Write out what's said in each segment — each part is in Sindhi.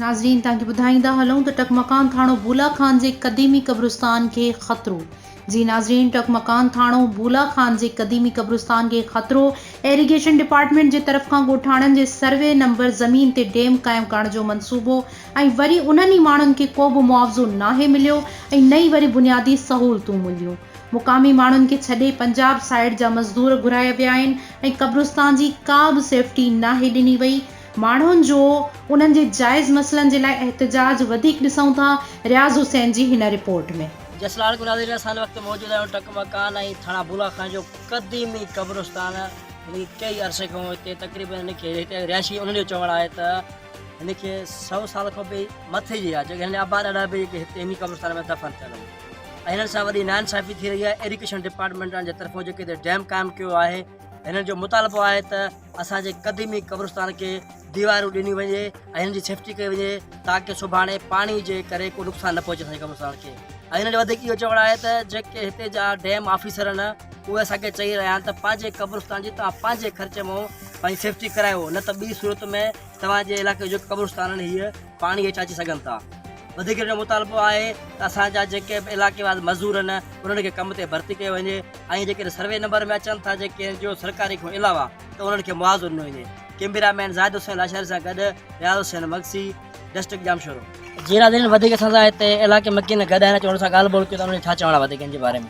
ناظرين توهان کي ٻڌائيندا هلون ته ٽڪمڪان ٿاڻو بولا خان جي قديمي قبرستان کي خطرو جي ناظرين ٽڪمڪان ٿاڻو بولا خان جي قديمي قبرستان کي خطرو ايريگيشن ڊپارٽمينٽ جي طرف کان ڳوٺاڻن جي سروي نمبر زمين تي ڊيم قائم ڪرڻ جو منصوبو ۽ وري انهن ئي ماڻهن کي ڪو به معاوضو ناهي مليو ۽ نه ئي وري بنيادي سهولتون مليون مقامي ماڻهن کي ڇڏي پنجاب سائيڊ جا مزدور گهرايا ويا آهن ۽ قبرستان جي ڪا به سيفٽي ناهي ڏني وئي ماڻهن جو انهن جي جائز مسئلن جي لاء احتجاج وڌيڪ ڏسون ٿا رياض حسين جي هن رپورٽ ۾. جسلاڻ ڳوٺ حاضرين سان وقت موجود اهڙو ٽڪ مڪان ۽ ٿڻا بولا خان جو قديمي قبرستان هن ڪئي عرصي کان هتي تقريبن هن کي هتي رهائشي انهن جو چوڻ آهي ته هن کي سئو سال کان به مٿي جي آ جيڪي هن آباد اڏا به هتي هن قبرستان ۾ دفن ٿيل هئا. هنن سان وڏي ناانصافي ٿي رهي آهي ايريگيشن ڊپارٽمينٽ جي طرفون جيڪي هتي ڊيم قائم ڪيو آهي هنن جو مطالبو آهي ته اسان جي قديمي قبرستان کي ديوارون ڏنيون وڃي ۽ هنن جي سيفٽي ڪئي وڃي تاڪي سڀاڻي پاڻي جي ڪري ڪو نقصان نه پهچي اسان جي قبرستان کي ۽ هنن جو وڌيڪ اهو چوڻ آهي ته جيڪي هتي جا ڊيم آفيسر آهن اهي اسان کي چئي رهيا آهن ته پنهنجي قبرستان جي توهان پنهنجي خرچ مون پنهنجي سيفٽي ڪرايو نه ته ٻي صورت ۾ توهان جي علاقي جو قبرستان آهن هي پاڻي هيٺ اچي سگهن ٿا. وڌيڪرن جو مطالبو آهي ته اسان جا جيڪي به علائقيوار مزدور آهن انهن کي ڪم تي ڀرتي ڪيو وڃي ۽ جيڪڏهن سروي نمبر ۾ اچن ٿا جيڪي اين جي او سرڪاري کان علاوه ته انهن کي معاوضو ڏنو وڃي ڪيميرا مين زاهد حسين لاشاري سان گڏ رياض حسين مگسي ڊسٽرڪٽ ڄامشورو جي ناظرين وڌيڪ اسان سان هتي علائقي مڪين گڏ آهن اچو انهن سان ڳالهه ٻولهه ڪيون ٿا انهن جي ڇا چوڻ آهي وڌيڪ ان جي باري ۾.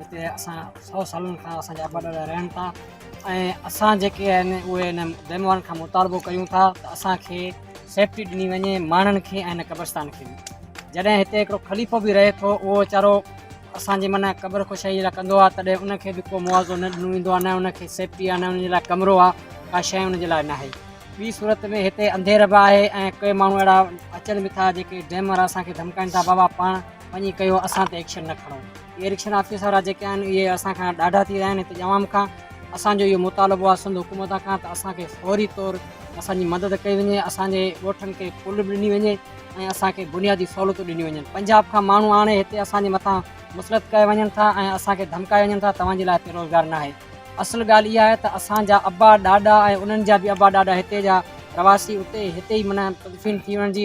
هتي اسان سؤ سالن کان اسان جا وڏڙا رهن ٿا ۽ اسان جيڪي آهن اهي هن بيمارن کان مطالبو ڪيون ٿا ته اسانکي سيفٽي ڏني وڃي ماڻهن کي ۽ هن قبرستان کي به جڏهن هتي هڪڙو خليفو به رهي ٿو اهو ويچارو اسانجي من قبر خوشائي جي لاء ڪندو آهي تڏهن ان کي به ڪو معاوضو نه ڏنو ويندو آهي نه ان کي سيفٽي آهي نه ان جي لاء ڪمرو آهي ڪا شي ان جي لاء ناهي ٻي صورت ۾ هتي انڌير به آهي ۽ ڪي ماڻهو اهڙا اچن به ٿا جيڪي ڊيمر اسانکي ڌمڪائن ٿا بابا پاڻ وڃي ڪيو اسان تي ايڪشن نه کڻو اهي رڪشن آفيس وارا جيڪي آهن اهي اسان کان ڏاڍا ٿي ويا آهن اتي جي عوام کان اسان جو اهو مطالبو آهي سنڌ حڪومت کان ته اسان کي فوري طور اسان جي مدد ڪئي وڃي اسان جي ڳوٺن کي پل به ڏني وڃي ۽ اسان کي بنيادي سهولتون ڏنيون وڃن پنجاب کان ماڻهو آڻي هتي اسان جي مٿان مسلط ڪيا وڃن ٿا ۽ اسان کي ڌمڪايا وڃن ٿا توهان جي لاء هتي روزگار ناهي اصل ڳالهه اها آهي ته اسان جا ابا ڏاڏا ۽ انهن جا به ابا ڏاڏا هتي جا رهواسي اتي هتي ئي منا تدفين ٿي وڃڻ جي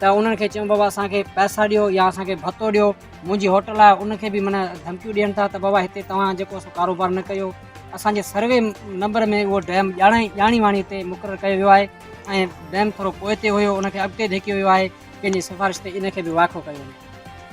ته انهن کي چيون بابا اسان کي پئسا ڏيو يا اسان کي ڀتو ڏيو منهنجي هوٽل آهي ان کي به معنيٰ ڌمڪيون ڏين ٿا ته بابا هتي توهان جيڪو سو ڪاروبار نه ڪيو اسان جي سروي نمبر ۾ اهو ڊيم ڄاڻائي ڄاڻي واڻي تي مقرر ڪيو ويو آهي ۽ ڊيم ٿورو پوئتي هيو ان کي اڳتي ڌيڪيو ويو آهي ڪنهن جي سفارش تي ان کي به واکو ڪيو وڃي.